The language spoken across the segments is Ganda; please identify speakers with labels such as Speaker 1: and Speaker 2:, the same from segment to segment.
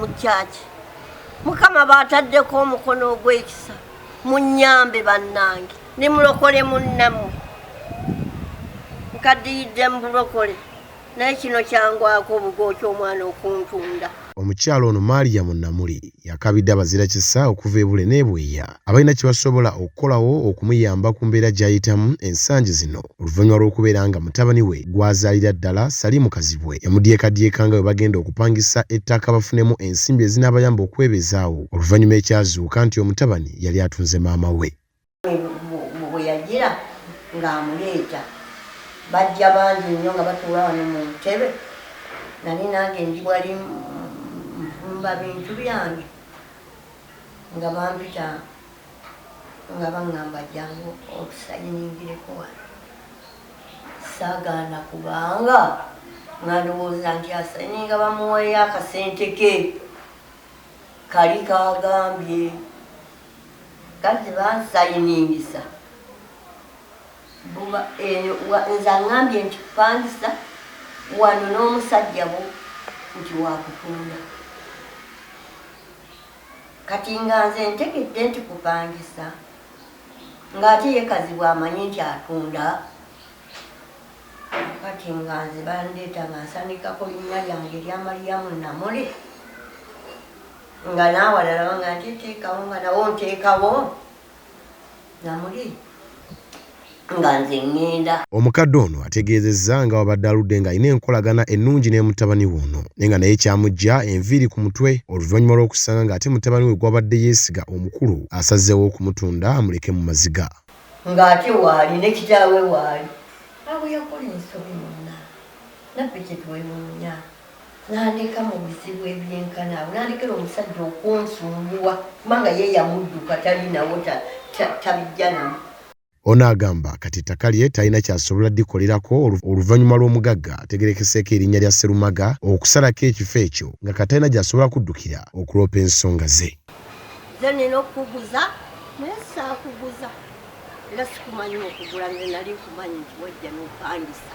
Speaker 1: mu kyaki mukama baataddeko omukono ogw'ekisa munyambe bannange ne mulokole munnamu nkadiyidde mu bulokole naye kino kyangwako obugooki omwana okuntunda omukyala ono
Speaker 2: maria munamuli yakabidde abazira kisa okuva ebule nebweya abalina kye basobola okukolawo okumuyamba ku mbeera gy'ayitamu ensangi zino oluvannyuma lw'okubeera nga mutabani we gw'azaalira ddala Salimu Kazibwe yamudyekadyeka nga bwe bagenda okupangisa ettaka bafunemu ensimbi ezinaabayamba okwebezaawo oluvannyuma ekyazuuka nti omutabani yali atunze maama we bwe yagira
Speaker 1: ng'amuleeta bajja bangi nnyo nga batuula wano mu ntebe nali nange ndi wali nfumba bintu byange Nga bampita nga bangamba jjangu otusayiningireko wano. Ssaagaana kubanga nga ndowooza nti asayininga bamuweeyo akasente ke kali kaagambye kati bansayiningisa buba eyo nze angambye nti kupangisa wano n'omusajja bo nti wakutunda Kati nga nze ntegedde nti kupangisa nga ate ye kazibwe amanyi nti atunda kati nga nze bandeeta nga nsanikako linnya lyange erya maliyamu namuli nga naawalala banga nti teekawo nga nawo nteekawo Namuli nga nze ngenda. Omukadde ono
Speaker 2: ategeezezza nga wabadde aludde nga alina enkolagana ennungi n'emutabani we ono naye nga naye kyamuggya enviiri ku mutwe oluvanyuma lw'okusanga nga ate mutabani we gwabadde yeesiga omukulu asazeewo okumutunda amuleke mu maziga. Nga ate
Speaker 1: waali ne kitaawe waali. Awo yakola ensobi munna naffe kye twewuunya Nandeka mu bizibu ebyenkana awo, nandekera omusajja okunsumbuwa kubanga ye yamudduka talinawo tabijjanamu. Ono agamba
Speaker 2: kati ettaka lye talina kyasobola dikolerako oluvanyuma lw'omugagga ategerekeseeko erinnya lya Sserumaga okusalako ekifo ekyo nga kati talina gyasobola kuddukira okuloopa ensonga ze. Nze nina
Speaker 1: okukuguza naye saakuguza era sikumanyi okugula nze nali nkumanyi nti wajja nopangisa.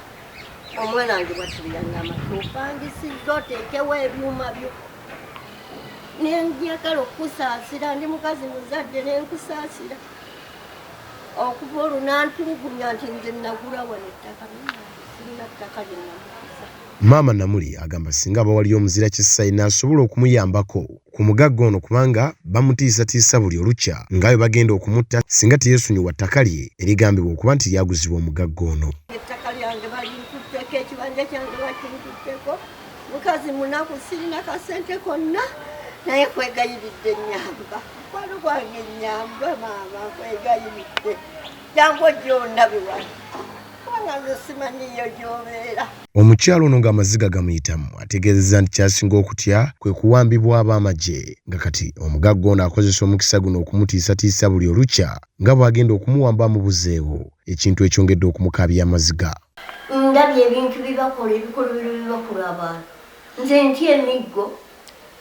Speaker 1: omwana wange bwatuliyangamba topangisiza oteekewo ebyuma byo nenjagala okukusaasira ndi mukazi muzadde nenkusaasira okuva olwo nantulugumya nti nze nagula wano ettaka sirina ttaka lyenamukusa maama namuli
Speaker 2: agamba singa abawaliyo omuzira kisa inaasobola okumuyambako ku mugagga ono kubanga bamutiisatiisa buli olukya nga bwe bagenda okumutta singa teyeesonyiwa ttaka lye erigambibwa okuba nti lyaguzibwa omugagga ono. Ettaka lyange
Speaker 1: balinkutteko, ekibanja kyange bakinkutteko, mukazi munaku sirina kasente konna naye kwegayiridde nyamba mukwano gwange nyamba maama kwegayiridde jangu ojja ondabiwa kubanga nze simanyiyo gyobeera Omukyala ono
Speaker 2: ng'amaziga gamuyitamu ategeezezza nti kyasinga okutya kwe kuwambibwa ab'amagye nga kati omugagga ono akozesa omukisa guno okumutiisatiisa buli olukya nga bw'agenda okumuwamba amubuzeewo ekintu ekyongedde okumukaabya amaziga. Ndabye
Speaker 1: ebintu byebakola ebikolobero byebakola abantu nze ntya emiggo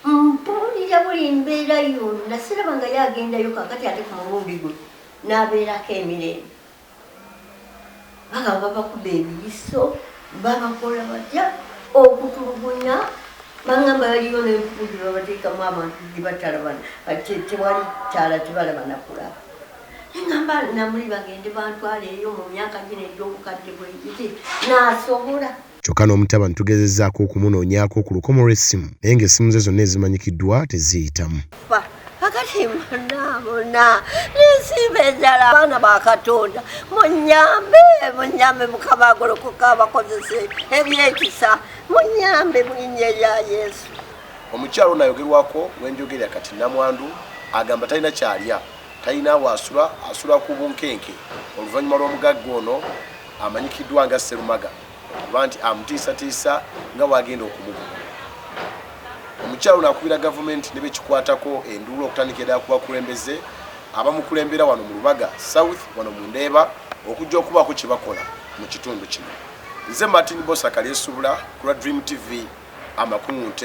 Speaker 1: mpulira buli mbeera yonna siraba nga ye agendayo kakati ate ku mulundi guno n'abeerako emirembe. Bagamba babakuba ebiyiso, babakola batya okutulugunya bangamba yaliyo n'enkuku gye babateekamu abantu gye batalabana kati tewali kyala tebalaba nakulaba engamba namuli bagende bantwala eyo mu myaka gino egy'obukadde bwegiti nasobola Kyokka n'omutabani
Speaker 2: tugezezzaako okumunoonyaako ku lukomo lw'essimu naye ng'essimu ze zonna ezimanyikiddwa teziyitamu.
Speaker 1: bonna nesiima enjala abaana ba katonda munyambe munyambe mukama agolokoka abakozese ebyekisa munyambe mulinya erya yesu omukyalo ono
Speaker 2: ayogerwako wenjogerera kati namwandu agamba talina kyalya talina waasula asula ku bunkenke oluvannyuma lw'omugagga ono amanyikiddwa nga serumaga kuba nti amutiisatiisa nga bwagenda okumukuba. Omukyala ono akubira gavumenti ne bekikwatako enduulu okutandikira ddala ku bakulembeze abamukulembera wano mu Lubaga South wano mu Ndeeba okujja okubaako kye bakola mu kitundu kino. Nze Martin Bosa Kalyesubula ku lwa Dream TV amakung'u.